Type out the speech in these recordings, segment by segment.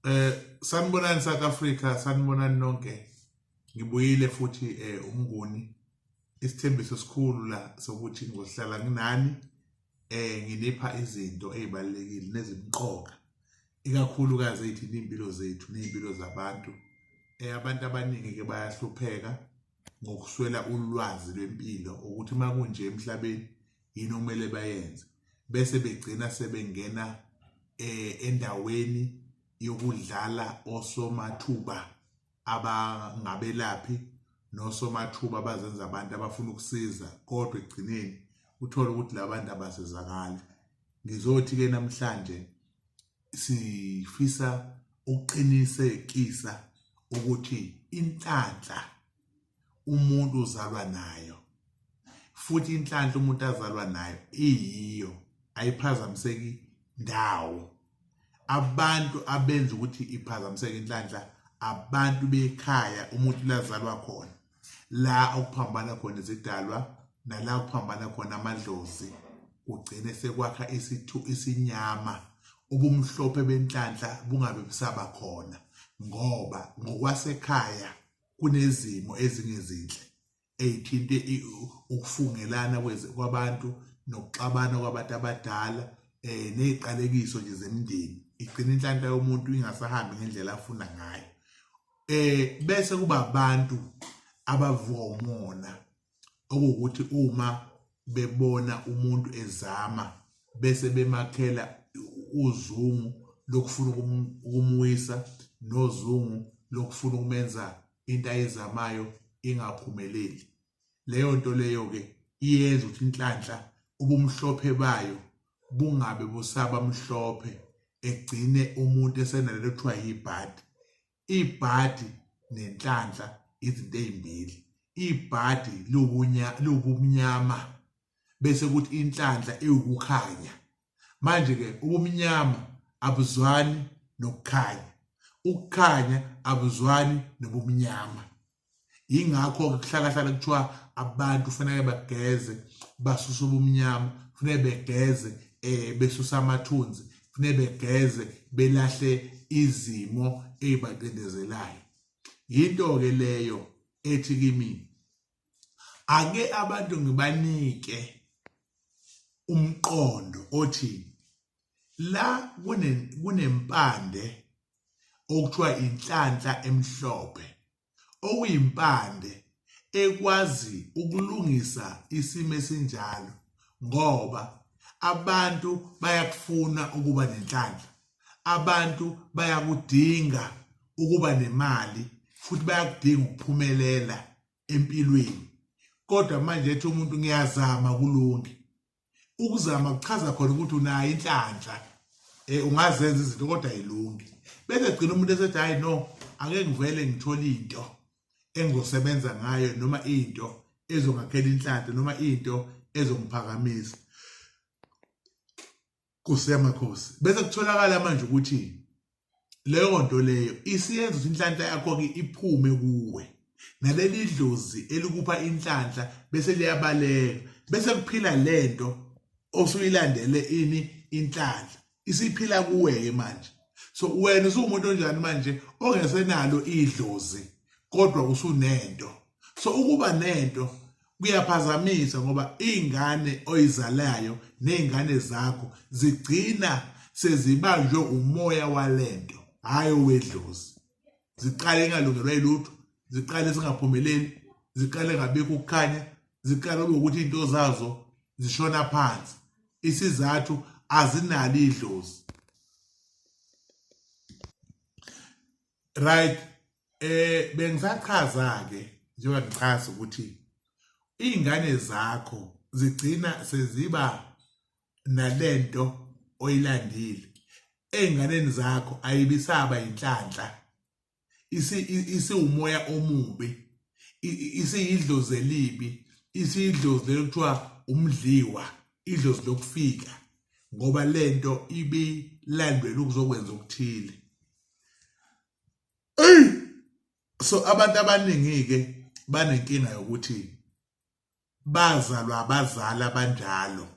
Eh sanibonani South Africa sanibonani nonke ngibuyile futhi eh umnguni isithembiso sikhulu la sokuthi ngohlala nginani eh nginipha izinto ezibalekile nezimqoka ikakhulukazi ethi impilo zethu nezimpilo zabantu eh abantu abaningi ke bayahlupheka ngokuswela ulwazi lwempilo ukuthi makunje emhlabeni yini okumele bayenze bese begcina sebengena eh endaweni yokudlala osomathuba abangabelaphi nosomathuba abazenza abantu abafuna ukusiza kodwa ekugcineni uthole ukuthi labantu abasizakali ngizothi ke namhlanje sifisa ukuqinisekisa ukuthi inhlanhla umuntu uzalwa nayo futhi inhlanhla umuntu azalwa nayo iyiyo ayiphazamiseki ndawo abantu abenza ukuthi iphazamiseke inhlanhla abantu bekhaya umuntu lazalwa khona la okuphambana khona izidalwa nala okuphambana khona amadlozi kugcine sekwakha isithu isinyama ubumhlophe benhlanhla bungabe busaba khona ngoba ngokwasekhaya kunezimo ezingezinhle eyithinte ukufungelana kwabantu nokuxabana kwabantu abadala eh neziqalekiso nje zemndeni igcina inhlanhla yomuntu ingasahambi ngendlela afuna ngayo eh bese kuba abantu abavuka umona okuwukuthi uma bebona umuntu ezama bese bemakhela uzungu lokufuna ukumwisa nozungu lokufuna ukumenza into ayizamayo ingaphumeleli leyo nto leyo ke iyenza ukuthi inhlanhla ubumhlophe bayo bungabe busaba mhlophe egcine umuntu esenalelo kuthiwa yibhadi ibhadi nenhlanhla izinto ezimbili ibhadi liwubunya liwubumnyama bese kuthi inhlanhla iwukukhanya manje ke ubumnyama abuzwani nokukhanya ukukhanya abuzwani nobumnyama yingakho-ke kuhlalahlala kuthiwa abantu kufanele bageze basuse ubumnyama kufanele begeze um besuse amathunzi kufanele begeze belahle izimo ey'bacindezelayo yinto-ke leyo ethi kimi ake abantu ngibanike umqondo othi la kunempande okuthiwa inhlanhla emhlophe okuyimpande ekwazi ukulungisa isimo esinjalo ngoba abantu bayakufuna ukuba nenhlanhla abantu bayakudinga ukuba nemali futhi bayakudinga ukuphumelela empilweni kodwa manje ethi umuntu ngiyazama kulunge ukuzama kuchaza khona ukuthi unayo inhlanhla eh ungazenza izinto kodwa ayilungi bese gcina umuntu esethi hayi no ake ngivele ngithole into engizosebenza ngayo noma into ezongakhela inhlanhla noma into ezongiphakamisa Nkosi yamakhosi bese kutholakala manje ukuthi leyo nto leyo isiyenza ukuthi inhlanhla yakho-ke iphume kuwe naleli dlozi elikupha inhlanhla bese liyabaleka bese kuphila le nto osuyilandele ini inhlanhla isiphila kuwe-ke manje so wena usuwumuntu onjani manje ongesenalo idlozi kodwa usunento so ukuba nento kuyaphazamisa ngoba ingane oyizalayo nezingane zakho zigcina sezibanjwe umoya walento hayi owedlozi ziqale ingalungelwa ilutho ziqale singaphumeleli ziqale ngabikho ukukhanya ziqale ukuthi into zazo zishona phansi isizathu azinalo idlozi right eh bengisachaza ke njengoba ngichaza ukuthi izingane zakho zigcina seziba nalento oyilandile ezinganeni zakho ayibisaba inhlanhla isi isiwumoya omubi isiyidlozi elibi isiyidlozi lokuthiwa umdliwa idlozi lokufika ngoba lento ibilandwela ukuzokwenza okuthile Ey! So abantu abaningi-ke banenkinga yokuthi bazalwa abazali abanjalo.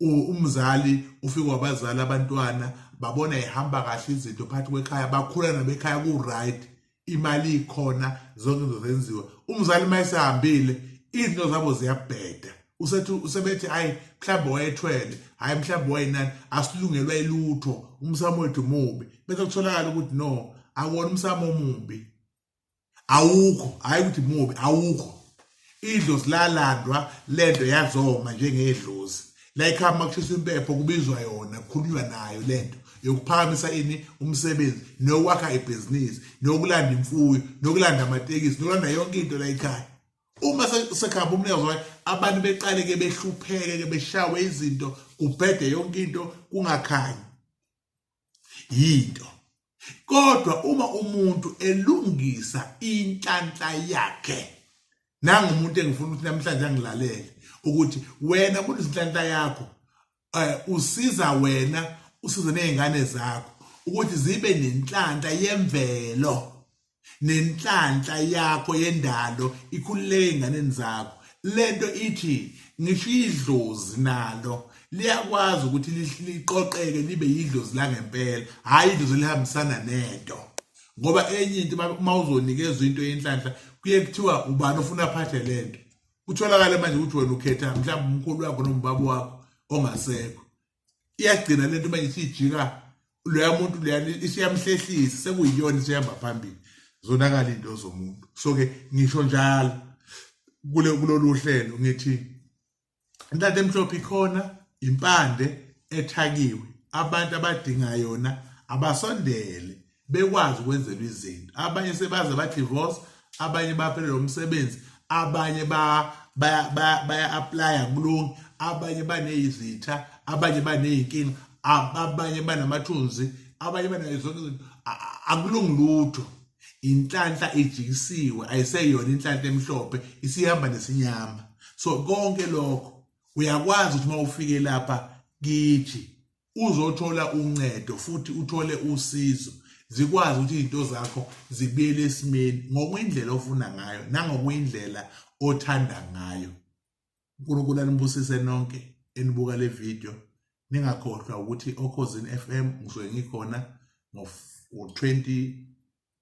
Umzali ufike wabazali abantwana babona ihamba kahle izinto phakathi kwekhaya, bakhula nabekhaya ku-right. imali ikhona zonke izinto zenziwa umzali uma esehambile izinto zabo ziyabheda usethi usebethi hayi mhlawumbe wayethwele hayi mhlawumbe wayinani asilungelwa ilutho umsamo wethu mubi bese kutholakala ukuthi no akuwona umsamo omubi awukho hayi ukuthi mubi awukho Idlozi lalandwa lento yazoma njengedlozi. La ikhama kushiswa impepho kubizwa yona kukhulunywa nayo lento yokuphakamisa ini umsebenzi nokwakha ibhizinisi nokulanda imfuyo nokulanda amatekisi nokulanda yonke into la ikhaya uma sekhamba umnikazi wayo abantu beqale ke behlupheke ke beshawe izinto kubhede yonke into kungakhanyi yinto kodwa uma umuntu elungisa inhlanhla yakhe nangumuntu engifuna ukuthi namhlanje angilalele ukuthi wena muntu izinhlanhla yakho eh, usiza wena usize nezingane zakho ukuthi zibe nenhlanhla yemvelo nenhlanhla yakho yendalo ikhululeke enganeni zakho lento ithi ngisho idlozi nalo liyakwazi ukuthi liqoqeke libe yidlozi langempela hhayi idlozi elihambisana nento ngoba enye into uma uzonikezwa into yenhlanhla kuye kuthiwa ubani ofuna aphathe le nto kutholakale manje ukuthi wena ukhetha mhlawumbe umkhulu wakho noma ubaba wakho ongasekho iyagcina le nto manje isiyijika loya muntu leya isiyamhlehlisa sekuyiyona isihamba phambili zonakala into zomuntu so ke ngisho njalo kule kulolu hlelo ngithi intatha emhlophe ikhona impande ethakiwe abantu abadinga yona abasondele bekwazi ukwenzelwa izinto abanye sebaze badivorce abanye baphelelwa umsebenzi abanye baya-aplaya kulungi abanye baneyizitha abanye baneyinkinga abanye banamathunzi abanye banayo zonke izinto akulungi lutho inhlanhla ijikisiwe ayiseyona inhlanhla emhlophe isihamba nesinyama so konke lokho uyakwazi ukuthi uma ufike lapha kithi uzothola uncedo futhi uthole usizo zikwazi ukuthi izinto zakho zibuyele esimeni ngokwindlela ofuna ngayo nangokwindlela othanda ngayo uNkulunkulu anibusise nonke enibuka le video ningakhohlwa ukuthi okhozini FM ngisuke ngikhona ngo-20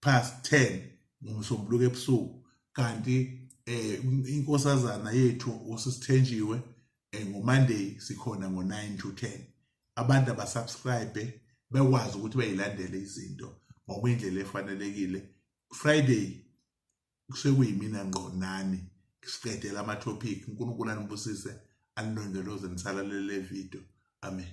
past 10 ngomsombuluko ebusuku kanti eh inkosazana yethu usisithenjiwe eh, ngomonday sikhona ngo9 to 10 abantu abasubscribe bekwazi ukuthi bayilandele izinto ngokwendlela efanelekile friday kusekuyimina ngqo nani siqedela ama topic uNkulunkulu anibusise anilondoloze nisalalele le video amen